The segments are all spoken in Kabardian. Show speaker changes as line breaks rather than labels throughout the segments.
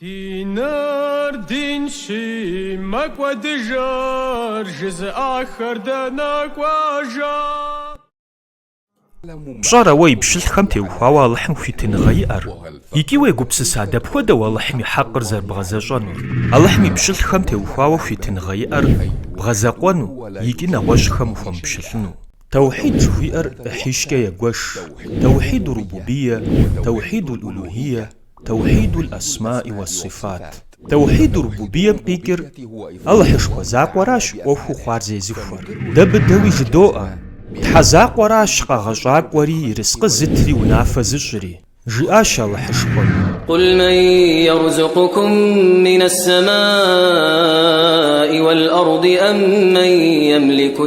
Диныр динщи, мэкӏуэдыжыр жызыӏахэр дэнэ
кӏуэжа? Пщӏэрэ уэ и пщылӏхэм теухуауэ Алыхьым хуитыныгъэ иӏэр? Икӏи уегупсыса дапхуэдэу Алыхьым и хьэкъыр зэрыбгъэзэщӏэнур? Алыхьым и пщылӏхэм теухуауэ хуитыныгъэ иӏэр бгъэзэкъуэну икӏи нэгъуэщӏхэм ухуэмыпщылӏыну? Таухьид жыхуиӏэр ӏыхьищкӏэ егуэш, таухьид-у-рубубийэ, таухьид-ул-улухийэ, Таухьидул Асмаи уа Сифат. Таухьиду Рубубийэм къикӏыр Алыхьышхуэ закъуэращ ӏуэхуу хъуар зезыхуэр. Дэ быдэуи жыдоӏэ, Тхьэ закъуэращ къэгъэщӏакӏуэри ерыскъы зытри унафэ зыщӏри, жиӏащ Алыхьышхуэм. Къул
мэн ерзукъукум минэс-сэмаи уэл-арди ам мэн емлику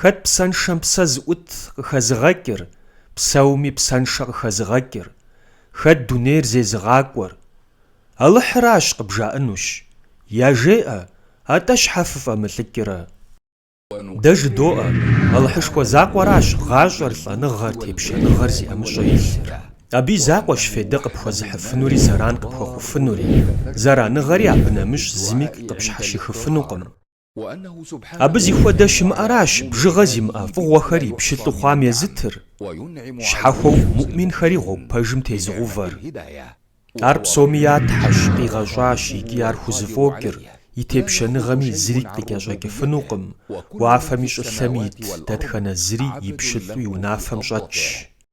Хэт псэншэм псэ зыӏут къыхэзыгъэкӏыр, псэуми псэншэ къыхэзыгъэкӏыр, хэт дунейр зезыгъакӏуэр? Алыхьыращ, къыбжаӏэнущ. Яжеӏэ, атӏэ щхьэ фыфӏэмылӏыкӏрэ? Дэ жыдоӏэ, Алыхьышхуэ закъуэращ гъащӏэр, лӏэныгъэр, тепщэныгъэр зи ӏэмыщӏэ илъыр. Абы и закъуэщ фейдэ къыпхуэзыхьыфынури зэран къыпхуэхъуфынури. Зэраныгъэри абы нэмыщӏ зыми къыпщхьэщихыфынукъым. Абы зи хуэдэ щымыӏэращ бжыгъэ зимыӏэ фӏыгъуэхэр и пщылӏу хъуам езытыр, щхьэхуэу муӏминхэри гъуэгу пэжым тезыгъэувэр. Ар псоми я Тхьэщ къигъэщӏащ икӏи ар хузэфӏокӏыр, и тепщэныгъэми зыри къыкӏэщӏэкӏыфынукъым, уафэми щӏылъэми ит дэтхэнэ зыри и пщылӏу и унафэм щӏэтщ.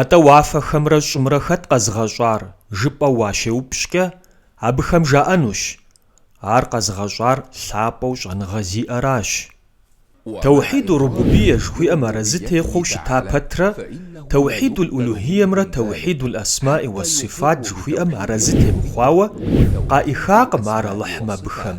Атӏэ уафэхэмрэ щӏымрэ хэт къэзыгъэщӏар жыпӏэу уащеупщӏкӏэ, абыхэм жаӏэнущ, Ар къэзыгъэщӏар лъапӏэу щӏэныгъэ зиӏэращ. Таухьид ур-рубубийя жыхуиӏэм арэзы техъуэу щыта пэтрэ, Таухьид уль-улухиямрэ Таухьид уль-асмаи уас-сифат жыхуиӏэм арэзы темыхъуауэ, къаӏихакъым ар Алыхьым абыхэм.